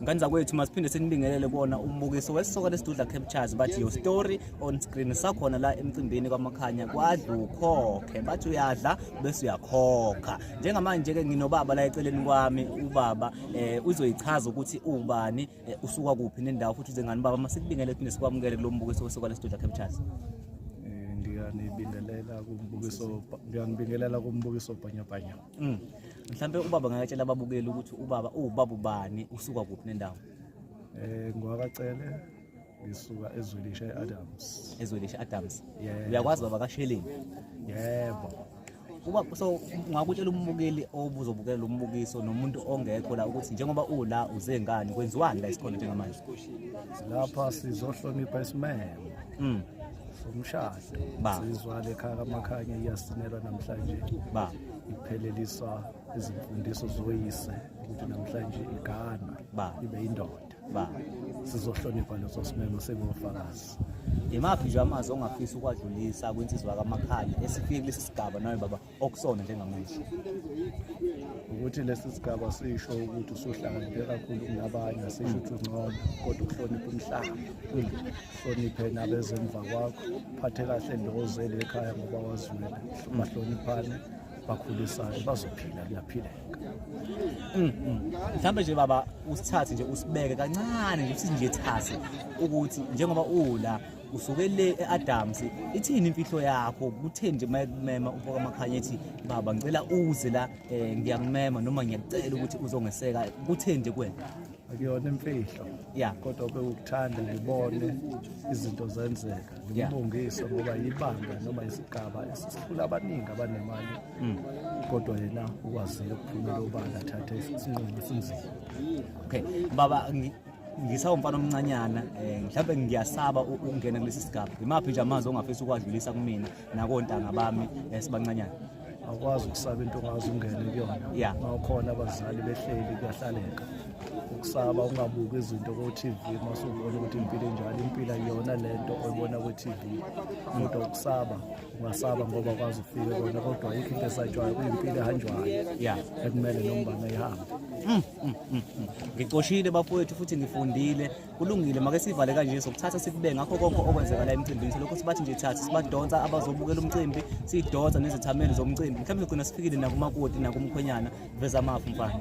ngani zakwethu masiphinde sinibingelele kona umbukiso wesisoka lesidudla captures bathi your story on screen sakhona la emcimbini kwamakhanya kwadla ukhokhe bathi uyadla bese uyakhokha njengamanje-ke nginobaba la eceleni kwami ubaba eh uzoyichaza ukuthi ubani eh, usuka kuphi nendawo futhi uze ngani baba masikubingelele phinde sikwamukele kulo mbukiso wesoka lesidudla captures eh, ngiyanibingelela kumbukiso ngiyanibingelela kumbukiso bhanyabhanya Mm. Mhlambe ubaba ngakatshela ababukeli ukuthi ubaba uwubaba ubani usuka kuphi nendawo. Eh ngwakacele ngisuka ezwelisha eAdams. Ezwelisha Adams. Yeah. Uyakwazi baba kasheleni. Yebo. Uba so ngakutshela umbukeli obuzobukela umbukiso nomuntu ongekho la ukuthi njengoba ula uze ngani kwenziwani la isikhona njengamanje. Lapha sizohlonipha isimemo. Mm. Somshado. sizwa lekhaya kamakhanya iyasinelwa namhlanje ipheleliswa izimfundiso zoyise ukuthi namhlanje igana ibe indoda sizohlonipha leso simemo singofakazi imaphi nje amazwi ongafisa ukuwadlulisa kwinsizwa kamakhanya esifike kulesi sigaba nawe baba okusona njengamanje ukuthi lesi sigaba sisho ukuthi usuhlakaniphe kakhulu kunabanye asisho ukuthi ungcono kodwa ukuhlonipha umhlaba hloniphe nabezemva kwakho phathe kahle ndozele ekhaya ngoba wazwile bahloniphane bakhulisane bazophila kuyaphileka mm, mm. mhlawumbe nje baba usithathe nje usibeke kancane nje usinje thase ukuthi njengoba ula usuke le e-adams ithini imfihlo yakho kutheni nje uma ekumema umfoka makhanya ethi baba ngicela uze la um ngiyakumema noma ngiyakucela ukuthi uzongeseka kutheni nje kwena akuyona imfihlo ya kodwa bewukuthanda ngibone izinto zenzeka ngimbongise ngoba yibanga noma isigaba esikhulu abaningi abanemali mm. kodwa yena ukwazile ukuphumela obala athathe isinqumo esinzima okay baba ngisawumfana omncanyana um mhlawumbe ngiyasaba ukungena kulesi sigaba yimaphi nje amazwi ongafisa ukuwadlulisa kumina nakontanga bami um sibancanyana awukwazi ukusaba into ongazi ungene kuyona yeah. mawukhona abazali behleli kuyahlaleka ukusaba ungabuki izinto ko-tv masubona ukuthi impilo enjalo impilo ayiyona le nto oyibona kwi-tv kodwa ukusaba ungasaba ngoba kwazi ufike kona kodwa ayikho into esatshwayo kuyimpilo ehanjwayo yeah ekumele nombana ihambe mm, mm, mm, ngicoshile bafowethu futhi ngifundile kulungile make sivale kanje sokuthatha sikube ngakho konke okwenzeka la emcimbini selokhu sibathi nje thatha sibadonsa abazobukela umcimbi sidonsa nezithameli zomcimbi mhlawumbe sigcina sifikile nakumakoti nakumkhwenyana veza amafu mfana